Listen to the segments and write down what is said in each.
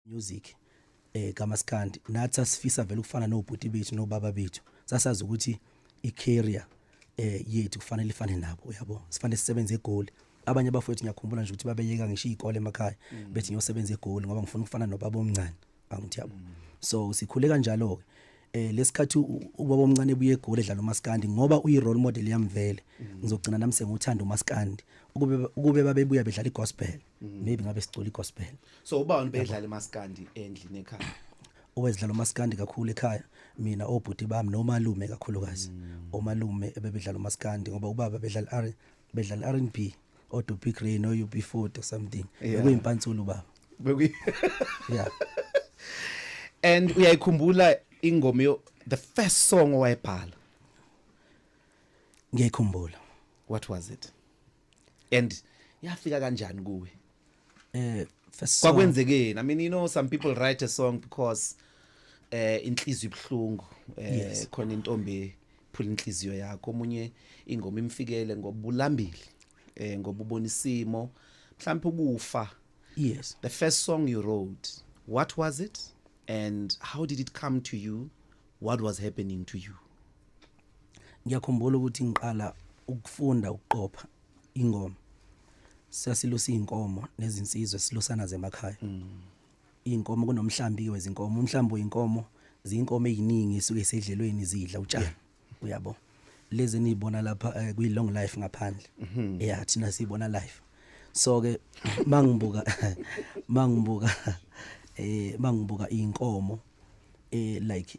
music eh kamaskandi nathi asifisa vele ukufana nobhuti bethu nobaba bethu sasazi ukuthi i-career eh yethu kufanele ifane nabo uyabo sifanele sisebenze egoli abanye abafowethu ngiyakhumbula nje ukuthi babeyeka ngisho izikole emakhaya mm. bethi ngiyosebenza egoli ngoba ngifuna ukufana nobaba omncane angithi yabo mm. so sikhule kanjalo ke eh lesikhathi ubaba omncane buye egoli edlala umaskandi ngoba uyi role model yamvele mm. ngizogcina nami senguthanda umaskandi ukube ukube babebuya bedlala igospel mm. maybe ngabe sicula igospel so ubani bedlala maskandi endlini ekhaya owezidlala umaskandi kakhulu ekhaya mina obhuti bami nomalume kakhulukazi mm. omalume ebebedlala umaskandi ngoba ubaba bedlala R bedlala R&B odo big rain or UB40 or something bekuyimpantsulu baba bekuyi yeah and uyayikhumbula ingoma yo the first song owayibhala ngiyayikhumbula what was it and yafika kanjani kuwe eh first song kwakwenzekeni i mean you know some people write a song because eh inhliziyo ibhlungu eh Yes. khona intombi phula inhliziyo yakho omunye ingoma imfikele ngobulambili eh ngobubona isimo mhlawumbe ukufa yes the first song you wrote what was it and how did it come to you what was happening to you ngiyakhumbula ukuthi ngiqala ukufunda ukuqopha ingoma sasilusa izinkomo nezinsizwe silusana zemakhaya mm. izinkomo kunomhlambi wezinkomo umhlambi weinkomo zinkomo eziningi esuke sedlelweni zidla utshani yeah. uyabo lezi nizibona lapha uh, eh, kwi long life ngaphandle mm -hmm. yeah thina sibona life so ke mangibuka mangibuka eh mangibuka inkomo eh like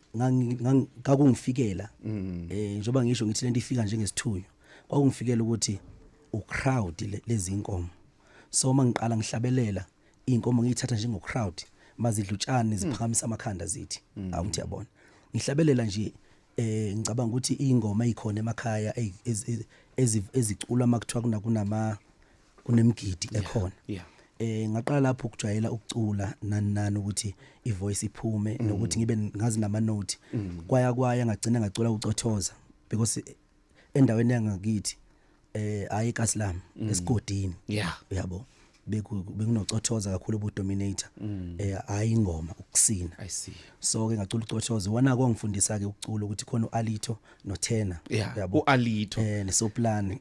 ngakungifikela mm. eh njoba ngisho ngithi lento ifika njengesithunywa kwakungifikela ukuthi u crowd lezi inkomo so uma ngiqala ngihlabelela inkomo ngiyithatha njengo crowd mazidlutshane ziphakamisa amakhanda zithi mm. awuthi yabona ngihlabelela nje eh ngicabanga ukuthi ingoma ikhona emakhaya eziculwa makuthiwa kunama kunemgidi ekhona yeah eh ngaqala lapho ukujwayela ukucula nani nani ukuthi ivoice iphume mm. nokuthi ngibe ngazi nama note mm. kwaya kwaya ngagcina ngacula ucothoza because endaweni yangakithi eh ayi kaSlam mm. esigodini yeah uyabo bekunocothoza kakhulu ubudominator mm. eh hayi ingoma ukusina i see so ke ngacula ucothoza wana kwangifundisa ke ukucula ukuthi khona uAlito nothena yeah. yabo ualito eh nesoplane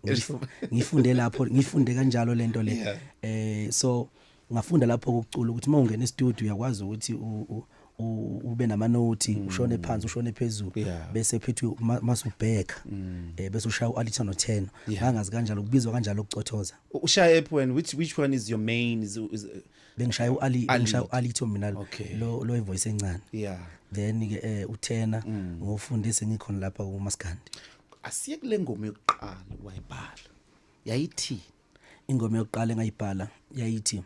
ngifunde lapho ngifunde kanjalo lento le yeah. eh so ngafunda lapho ukucula ukuthi uma ungena e-studio uyakwazi ukuthi ube nama note mm. ushone phansi ushone phezulu yeah. bese phethwe masubheka mm. eh bese ushaya ualita no 10 yeah. angazi kanjalo kubizwa kanjalo ukucothoza ushaya ephi wena which which one is your main is, is, bengishaya uali bengishaya uali to mina okay. lo lo voice encane yeah then ke eh uthena mm. ngofunde sengikhona lapha kumaskandi asiye kule ngoma yokuqala wayibhala yayithi ingoma yokuqala engayibhala yayithi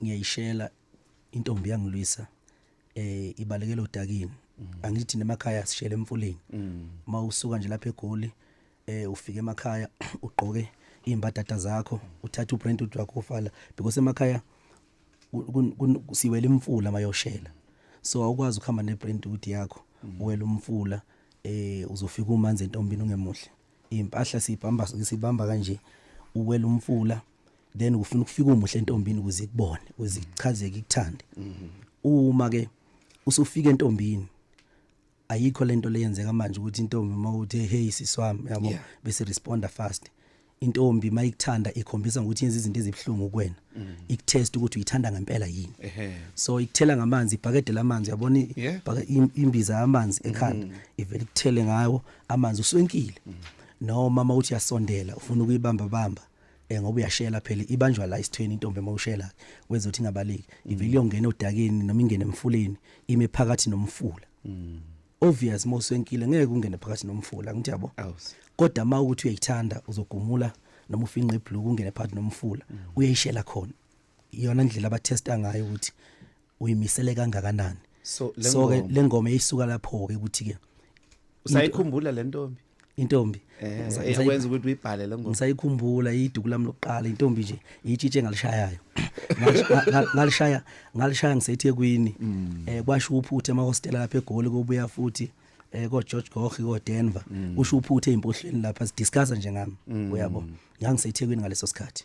ngiyayishela intombi yangilwisa eh ibalekela odakini mm. angithi nemakhaya sishele emfuleni mm. mawusuka nje lapha egoli eh ufike emakhaya ugqoke imbadada zakho uthatha ubrand wakho ufala because emakhaya siwela imfula mayoshela so awukwazi ukuhamba nebrand ukuthi yakho mm. uwela umfula eh uzofika umanzi entombini ungemuhle impahla sibamba sibamba kanje uwela umfula then ufuna ukufika umuhle entombini ukuze ikubone ukuze ichazeke ikuthande mm-hmm. uma ke usufika entombini ayikho lento leyenzeka manje ukuthi intombi uma uthi hey siswami yabo yeah. bese responda fast intombi mayikuthanda ikhombisa ukuthi yenza izinto ezibhlungu kuwena mm. ikutest ukuthi uyithanda ngempela yini so ikuthela ngamanzi ibhakede lamanzi yabona imbiza yamanzi ekhanda mm. ivele ikuthele ngawo amanzi uswenkile mm. noma mawuthi yasondela ufuna ukuyibamba bamba eh ngoba uyashela phela ibanjwa la isithweni intombi emawushela wezothi ingabaleki mm. ivele iyongena odakeni noma ingene emfuleni ime phakathi nomfula mm. obvious moswenkile ngeke ungene phakathi nomfula ngithi yabo kodwa uma ukuthi uyayithanda uzogumula noma ufinqe ibhloko ungene phakathi nomfula mm. uyayishela khona iyona ndlela abathesta ngayo ukuthi uyimisele kangakanani so so ke lengoma lengoma eyisuka lapho ke ukuthi ke usayikhumbula le ntombi intombi eh Ngisa- ngisa- ekwenza ukuthi uyibhale le ngoma ngisayikhumbula iduku lami lokuqala intombi nje itshitshe engalishayayo Ngalish- nga- nga- ngalishaya ngalishaya ngisethekwini Mm. eh kwasho uphuthe emahostela lapha egoli kobuya futhi eh ko George Gogi ko Denver Mm. usho uphuthe impohlweni lapha sidiscussa nje ngami uyabo ngangisethekwini ngaleso sikhathi